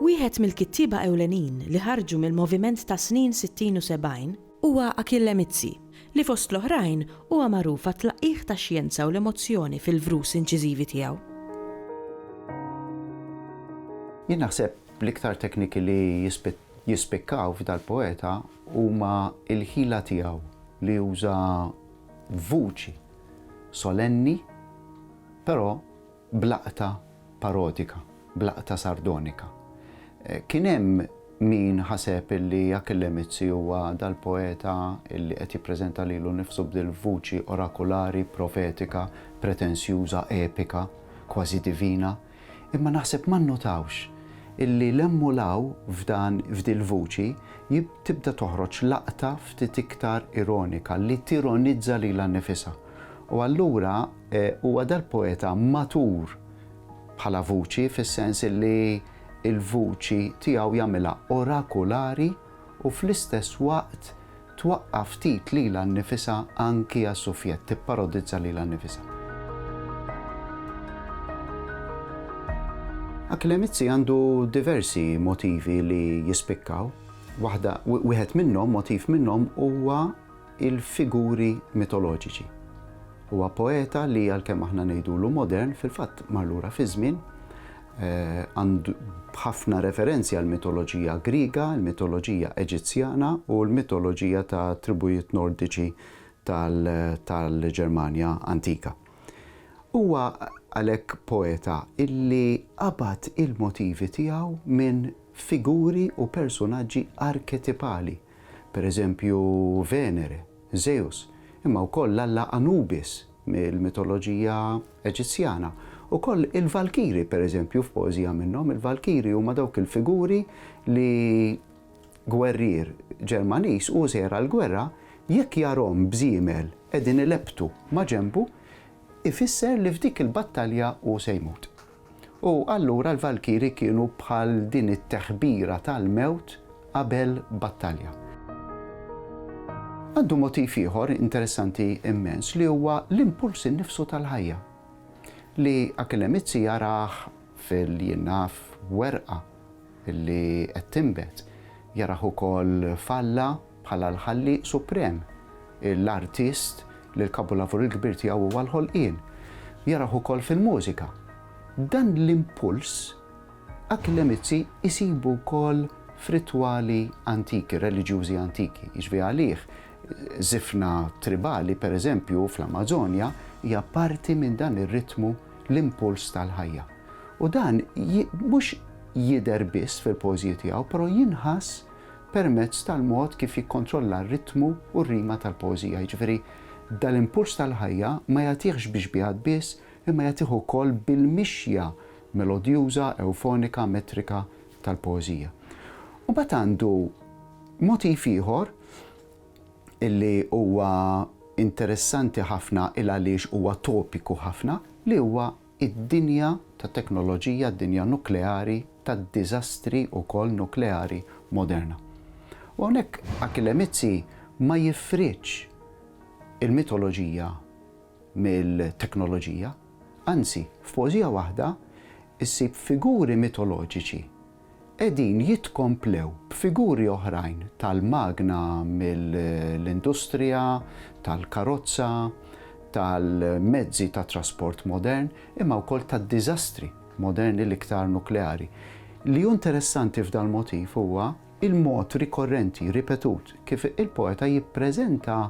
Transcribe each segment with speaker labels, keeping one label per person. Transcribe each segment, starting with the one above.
Speaker 1: Wieħed mill-kittieba ewlenin li ħarġu mill-moviment tas-snin sittin u sebgħin huwa Achille Mizzi, li fost l-oħrajn huwa magħruf għat-tlaqqigħ tax-xjenza u l-emozzjoni fil-vrus inċiżivi tiegħu.
Speaker 2: Jien naħseb L-iktar tekniki li jispikkaw f'dal-poeta huma l-ħila tiegħu li juża vuċi solenni però b'laqta parodika, b'laqta sardonika. Kien hemm min ħaseb li Achille Mizzi huwa dal-poeta li qed jippreżenta lilu nnifsu b'dil-vuċi orakulari, profetika, pretensjuża, epika, kważi divina. Imma naħseb ma nnotawx illi 'l hemm u 'l hawn f'dan f'dil-vuċi tibda toħroġ laqta ftit iktar ironika li tironizza lilha nnifisha. U allura huwa dal-poeta matur bħala vuċi fis-sens illi l-vuċi tiegħu jagħmilha orakulari u fl-istess waqt Twaqqa' ftit lilha nnifisha anki għas-suffjett, tipparodizza lilha nnifisha. Achille Mizzi għandu diversi motivi li jispikkaw. Waħda, wieħed minnhom, motiv minnhom huwa il-figuri mitoloġiċi. Huwa poeta li għalkemm aħna ngħidulu modern, fil-fatt mar lura fiż-żmien, għandu ħafna referenzi għall-mitoloġija Griega, il-mitoloġija Eġizzjana u l-mitoloġija ta' tribujiet Nordiċi tal-Ġermanja antika. Huwa għalhekk poeta illi qabad il-motivi tiegħu minn figuri u persunaġġi arketipali, pereżempju Venere, Żeus, imma wkoll l-alla Anubis mill-mitoloġija Eġizzjana. Ukoll il-Valkiri, per eżempju, f'poeżija minnhom, il-Valkiri huma dawk il-figuri li gwerrier Ġermaniż u sejjer għall-gwerra jekk jarahom b'żiemel qegħdin ilepptu maġenbu, ifisser li f'dik il-battalja hu se jmut. U allura l-valkiri kienu bħal din it-teħbira tal-mewt qabel battalja. Għandu motiv ieħor interessanti immens li huwa l-impuls innifsu tal-ħajja, li Akelemizzi jarah fil-jnaf werqa li qed tinbet, jarah ukoll f'alla, Bħala l-Ħallieq Suprem, l-Artist, li l-kapulavur il-kbir tiegħu huwa l-ħolqien, jaraħ ukoll fil-mużika. Dan l-impuls anki l-Emizzi jsibu wkoll f'ritwali antiki, reliġjużi antiki. Jiġifieri għalih, żifna tribali, pereżempju, fl-Amażonja, hija parti minn dan ir-ritmu, l-impuls tal-ħajja. U dan mhux jidher biss fil-poeżiji tiegħu, però jinħass permezz tal-mod kif jikkontrolla r-ritmu u r-rima tal-poeżija, jiġifieri dal-impuls tal-ħajja ma jagħtihx bi xbiehat biss imma jagħtih ukoll bil-mixja melodjuża, ewfonika, metrika tal-poeżija. U mbagħad għandu motiv ieħor li huwa interessanti ħafna il-għaliex huwa topiku ħafna li huwa id-dinja ta' teknoloġija, d-dinja nukleari, tad-diżastri wkoll nukleari moderna. U hawnhekk Achille Mizzi ma jifridx il-mitoloġija mill-teknoloġija, anzi, f'poeżija waħda ssib figuri mitoloġiċi qegħdin jitkomplew b'figuri oħrajn tal-magna mill-industrija tal-karozza, tal-mezzi ta' trasport modern, imma wkoll tad-diżastri moderni l-iktar nukleari. Li hu interessanti f'dal-motiv huwa il-mod rikorrenti, ripetut, kif il-poeta jippreżenta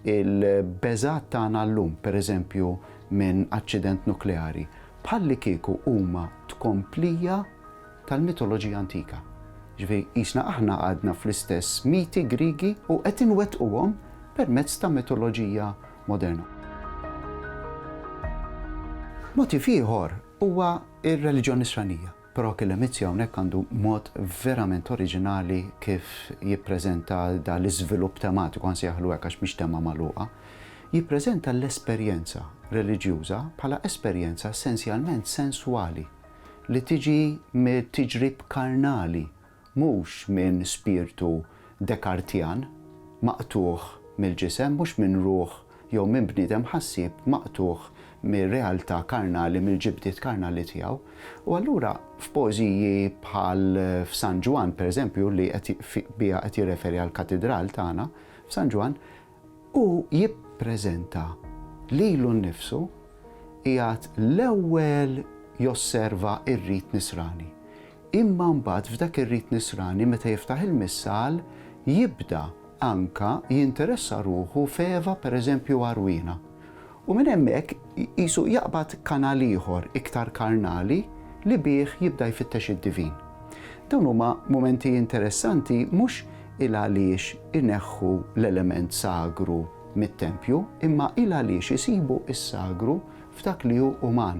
Speaker 2: Il-beżgħat tagħna llum, pereżempju, minn aċċident nukleari, bħallikieku huma tkomplija tal-mitoloġija antika. Jiġifieri, qisna aħna għadna fl-istess miti Griegi u qed inwettquhom permezz ta' mitoloġija moderna. Motiv ieħor huwa r-reliġjon Nisranija. Però Killer Mizzi hawnhekk għandu mod verament oriġinali kif jippreżenta da l-iżvilupp tematiku, għan sejjaħlu hekk għax mhix tema magħluqa, jippreżenta l-esperjenza reliġjuża bħala esperjenza essenzjalment senswali li tiġi mit-tiġrib karnali mhux minn spirtu Dekartjan maqtugħ mill-ġisem, mhux minn ruħ jew minn bniedem ħassieb maqtugħ mir-realtà karnali, mill-ġibdiet karnali tiegħu. U allura f'poeżiji bħal f'San Ġwann, pereżempju, li qed biha qed jirreferi għall-Katidral tagħna, f'San Ġwann, Hu jippreżenta lilu nnifsu qiegħed l-ewwel josserva r-rit nisrani, imma mbagħad f'dak ir-rit nisrani meta jiftaħ il-Missal jibda anke jinteressa ruħu f'Eva pereżempju għarwiena U minn hemmhekk qisu jaqbad kanal ieħor iktar karnali li bih jibda jfittex id-divin. Dawn huma mumenti interessanti mhux il-għaliex ineħħu l-element sagru mit-tempju imma il-għaliex isibu s-sagru f'dak li hu uman.